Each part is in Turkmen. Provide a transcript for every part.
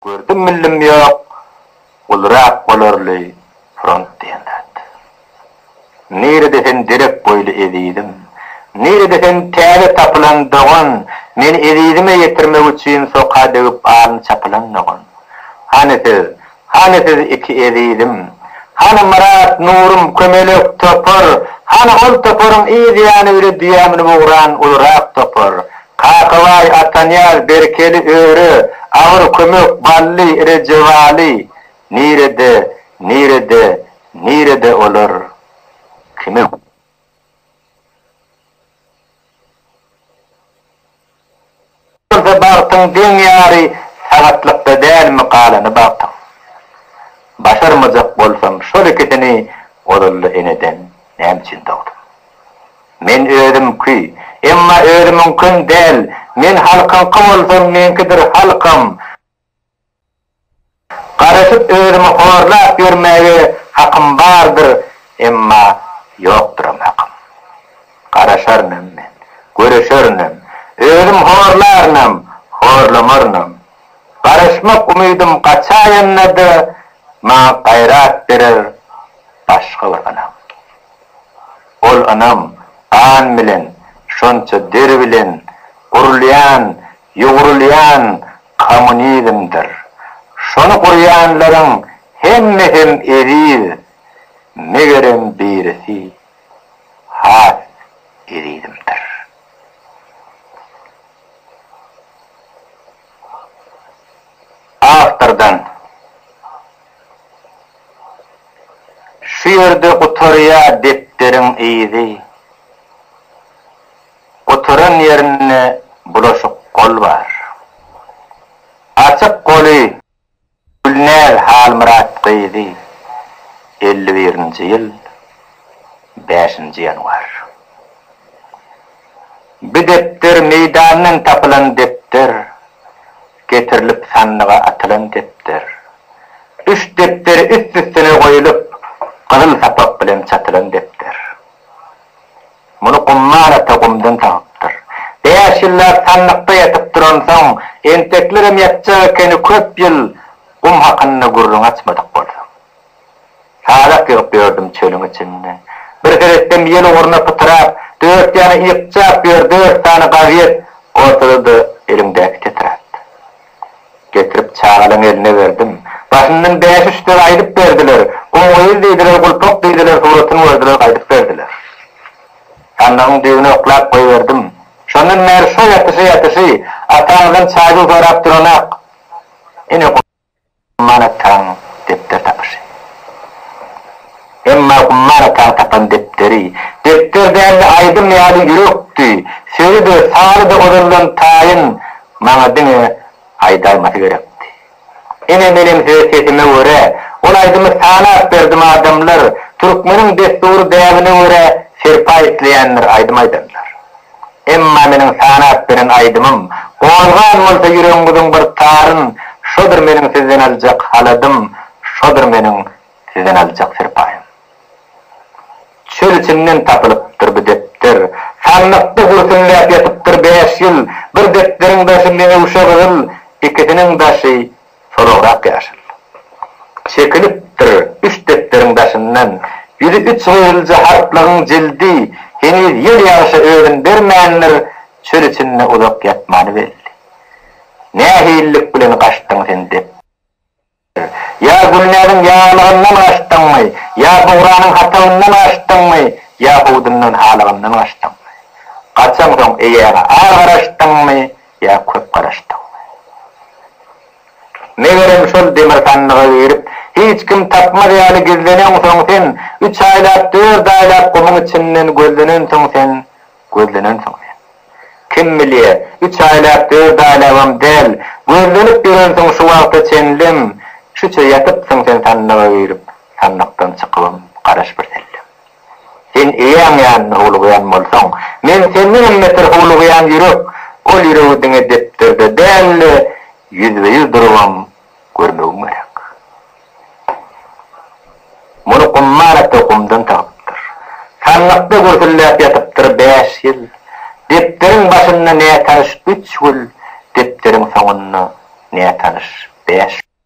Gördüm millim ýok, gulrak bolarly front diýen zat. Nirede sen derek boýly ezizim, nirede sen täze tapylan dogan, meni ezizime ýetirmek üçin soka degip alny çapylan dogan. Hany siz, hany siz iki ezizim, hany Myrat, Nurym, kömelek topar, hany ol toparyň yz ýany bile düýä münüp ugran ulurak topar, Kakabaý, Atanyýaz, Berkeli, Öre, Agyr, Kömek, Bally, Rejebaly, nirede, nirede, nirede olar? Kime. Bolsa bagtyň deň ýary sagatlykda dälmi galany bagtyň. Başarmajak bolsam şol ikisini ozalda eneden näme üçin dogdum. Men özümki, emma özümiňkem däl, men halkyňky bolsam meňkidir halkam. Garaşyp özümi horlap ýörmäge hakym bardyr, emma ýokduram hakym. Garaşarynam men, göreşerinem, özüm horlarynam, horlamarynam. Garaşmak umydym gaçaýanda-da maňa gaýrat berer başga bir ynam. Ol ynam, gan bilen, şonça deri bilen gurulýan, ýugrulýan kommunizmdir. Şony gurýanlaryň hemmesem eziz, megerem birisi has ezizimdir. Awtordan. Şu ýerde gutarýa depderiň yzy. Gutaran ýerinde bulaşyk gol bar. Açyk goly Gülnäz Halmyrat gyzy elli birinji ýyl bäşinji ýanwar Bi depder meýdandan tapylan depder. Getirilip sandyga atylan depder. Üç depderi üst-üstüne goýulyp, gyzyl sapak bilen çatylan depder. Muny Gumman ata gumdan tapypdyr. Bäş ýyllap sandykda ýatyp duransoň, enteklerem ýatjak ekeni köp ýyl gum hakynda gürrüň açmadyk bolsam. Halap ýygyp ýördüm çölüň içinde. Bir seretsem ýel ugruna pytyrap, dört ýana ýykjap ýör dört sany gazet, ortada-da eliňdäki tetrat. Getirip çagalaň eline berdim. Başyndan bäş-üç söz aýdyp berdiler. Gum gyz diýdiler, gulpak diýdiler, suratyn gördüler, gaýdyp berdiler. Sandygyň düýbüne oklap goýberdim. Şondan bäri şo ýatyşy-ýatyşy, ataňdan çaýdyl sorap duranak. Ine, Umman ataň depder tapyşy. Emma Umman ataň tapan depderi, depder däldi aýdym ýaly ýürekdi, sözi-de, sazy-da ozaldan taýyn, maňa diňe aýdalmasy gerekdi. Ine menem öz sesime görä, ol aýdymy sanap berdim adamlar, türkmeniň dessury däbine görä serpaý isleýänler aýdym aýdanlar. Emma meniň sanap beren aýdymym gozgan bolsa ýüregiňiziň bir taryn, şodur meniň sizden aljak haladym, şodur meniň sizden aljak serpaýym. Çöl içinden tapylypdyr bu depder. Sandykda gürsüňläp ýatypdyr bäş ýyl. Bir depderiň daşy meňewşe gyzyl, ikisiniň daşy Soragrak ýaşyl. Çekilipdir üç depderiň daşyndan. Ýüzi üç gyzylja harplaryň jildi. Heniz ýel ýagyşa özün bermändir, çöl içinde uzak ýatmany belli. Nähililik bilen gaçdyň sen dep. Ýa Gülnäziň ýaglygyndan gaçdyňmy, ýa bugranyň hatagyndan gaçdyňmy, ýa howdundan halygyndan gaçdyňmy? Gaçaňsoň eýäňe ar garaşdyňmy, Ýa köp garaşdyňmy? Megerem şol demirhanlyga girip, hiç kim tapmaz ýaly gizlenensoň sen, üç aýlap, dört aýlap gumuň içinden gözlenensoň sen, gözlenensoň sen. Kim bilýä, üç aýlap, dört aýlabam däl, gözlenip ýörensiň şu wagta çenlem, şuça ýatypsyň sen sandyga girip, sandykdan çykybam garaş birsellem. Sen eýäň ýanynda howlugýan bolsaň, men senden hem beter howlugýan ýürek, ol ýüregi diňe depderde däl-de, ýüzbe-ýüz durubam görmegiň gerek. Muny Gummar ata gumdan tapypdyr. Sandykda gürsülläp ýatypdyr bäş ýyl. Depderiň başynda nätanyş üç gül, depderiň soňunda nätanyş bäş gül.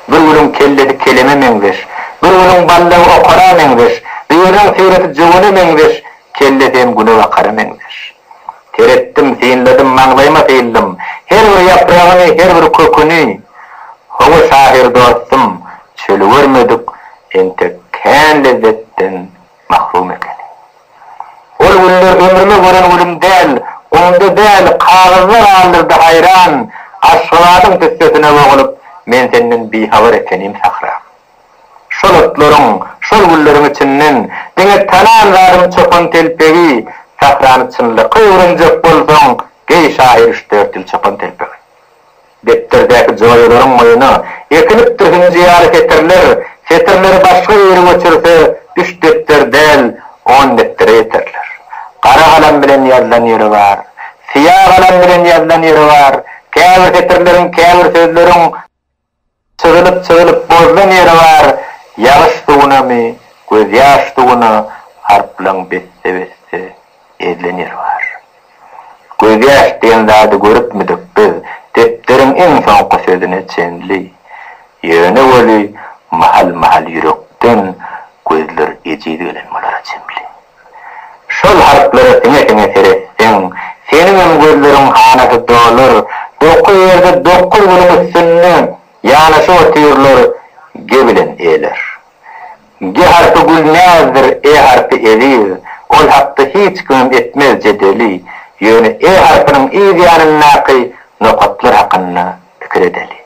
Bir gülüň kellesi keleme meňzeş. Bir gülüň ballagy okara meňzeş. Biriniň syraty jöwene meňzeş. Kellesi hem günebakara meňzeş. Seretdim, synladym, maňlaýyma syldym. Her bir ýapragyny, her bir köküni. Hawa, şahyr dostum, çöli görmedik, entek kän lezzetden mahlum ekeni. Ol günler ömrüme gören günüm däl, gumda däl, kagyzda galdyrdy haýran, Aşgabadyň tüssesine bogulyp, men senden bihabar ekenim sahram. Şol otlaryň, şol gülleriň içinden, diňe tanan zadym çopan telpegi, Sahrany çynlakaý öwrenjek bolsaň, geý şahyr üç-dört ýyl çopan telpegi. Depterdäki joýalaryň oýuna ekilipdir hünje ýaly setirler, setirleri başga ýere göçürse, üç depder däl, on depdere ýeterler. Gara galam bilen ýazylan ýeri bar. Syýa galam bilen ýazylan ýeri bar. Käbir setirleriň, käbir sözleriň. Sygylyp-sygylyp bozlan ýeri bar, Ýagyş suwunamy, gözýaş suwuna Harplaň besse-besse ezlen ýeri bar. Gözýaş diýen zady görüpmidik biz Depderiň iň soňky sözüne çenli. Ýöne weli, mahal-mahal ýürekden Gözler ejiz gelen bolara çemli. Şol harplara siňe-siňe seretseň, seniňem gözleriň hanasy dolar, dokuz ýerde dokuz günüň üstünde ýanaşyp otyrlar, ge bilen eler. Ge harpy Gülnäzdir, e harpy Eziz, ol hakda hiç kimem etmez jedeli, ýöne e harpynyň yz ýanyndaky nokatlar hakynda Pikir edeli.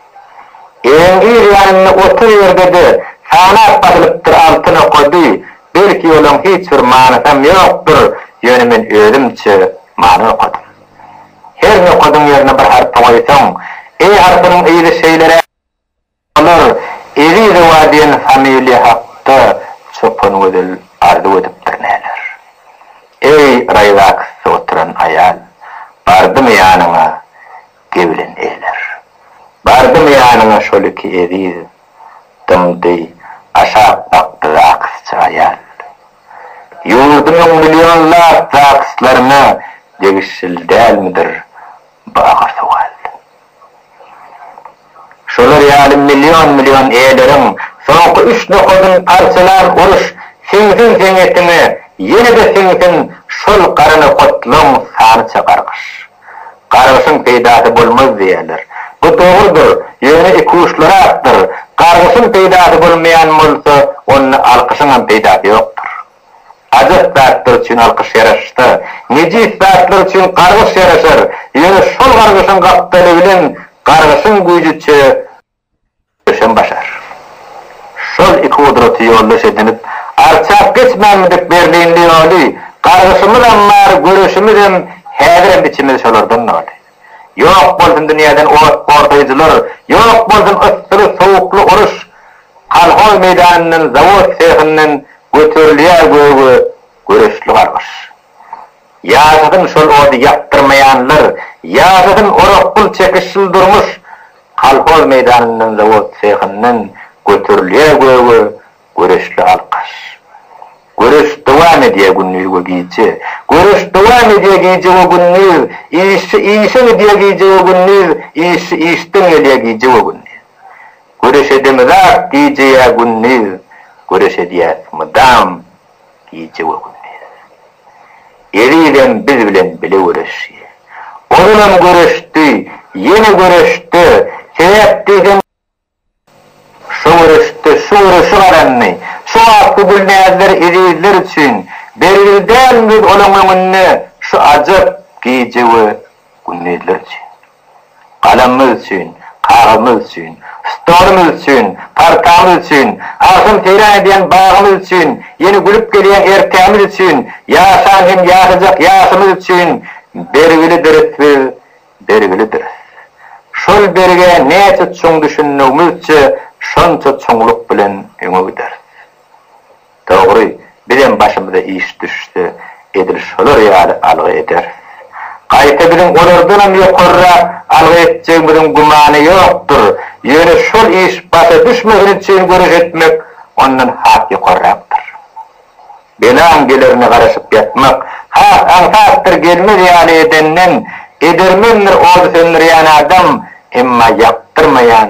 Ewiň ir ýanynda otur ýerde-de sanap basylypdyr altyn okady, belki olaň hiç bir manysam ýokdur, ýöne men özümçe many okadym. Her nokadyň ýerine bir harpy goýsaň, e harpynyň yzy şeýlerä bolar, Ezizowa diýen familiýa hakda Çopangözel arzuw edipdir näler. Eý, raýzaksda oturan aýal, bardymy ýanyňa, Ge bilen eýler. Bardymy ýanyňa şol iki eziz, Dymdy, aşak bakdy zakysçy aýal. Ýurdumyň millionlap zakyslaryna degişil dälmidir bu agyr sowal? Şolar ýaly million-million eýleriň soňky üç nokadyny parçalan uruş siňsin seňňetiňe, ýene-de siňsin şol gara nokatlaň sanyça gargyş. Gargyşyň peýdasy bolmaz diýýärler. Bu dogrudyr, ýöne ikuçlurakdyr, gargyşyň peýdasy bolmaýan bolsa, onda alkyşyňam peýdasy ýokdur. Ajap zatlar üçin alkyş ýaraşsa, nejis zatlar üçin gargyş ýaraşar, ýöne şol gargyşyň gapdaly bilen gargyşyň güýjüçe, Köşem başar. Şol iki gudraty ýoldaş edinip, arçap geçmänmidik berlinli ýoly? Gargyşymyzam bar, göreşimizem, häzirem içimiz şolardan doly. Ýok bolsun dünýäden ot gortaýjylar, ýok bolsun yssyly-sowukly uruş! Kolhoz meýdanyndan, zawod sehinden göterilýär göge göreçli gargyş. Ýaşasyn şol ody ýakdyrmaýanlar, ýaşasyn orak pul çekişsiz durmuş! Kolhoz meýdanyndan, zawod sehyndan göterilýär göge Güreşli alkyş. Güreş dowam edýär gündiz we gije. Güreş dowam edýär gije we gündiz. Işçi işe gidýär gije we gündiz, işçi işden gelýär gije we gündiz. Güreş edemizak gije ýa gündiz, güreş edýäs mydam gije we gündiz. Ezizem biz bilen bile göreşdi. Ozalem göreşdi, ýene göreşde, sebäp diýseň, şo göreşde şu göreşi gazandy, şu wagt bu Gülnäzler ezizler üçin belgili dälmi biz olaň öňünde şu ajap gije we gündizler üçin. Galamymyz üçin, kagyzymyz üçin, stolumyz üçin, partamyz üçin, agşam seýran edýän bagymyz üçin, ýene gülüp gelýän ertämiz üçin, ýaşan hem ýaşajak ýaşymyz üçin bergilidiris biz, bergilidiris. Şol berge näçe çuň düşünmegimizçe, şonça çuňluk bilen öňe gideris. Dogry, bizem başymyza iş düşse, edil şolar ýaly algy ederis. Gaýta biziň olardanam ýokarrak algy etjegimiziň gümany ýokdur, ýöne şol iş başa düşmesin üçin göreş etmek ondan has ýokarrakdyr. Belaň gelerine garaşyp ýatmak, has aňsatdyr gelmez ýaly edenden, edermendir ody söndürýän adam, emma ýakdyrmaýan,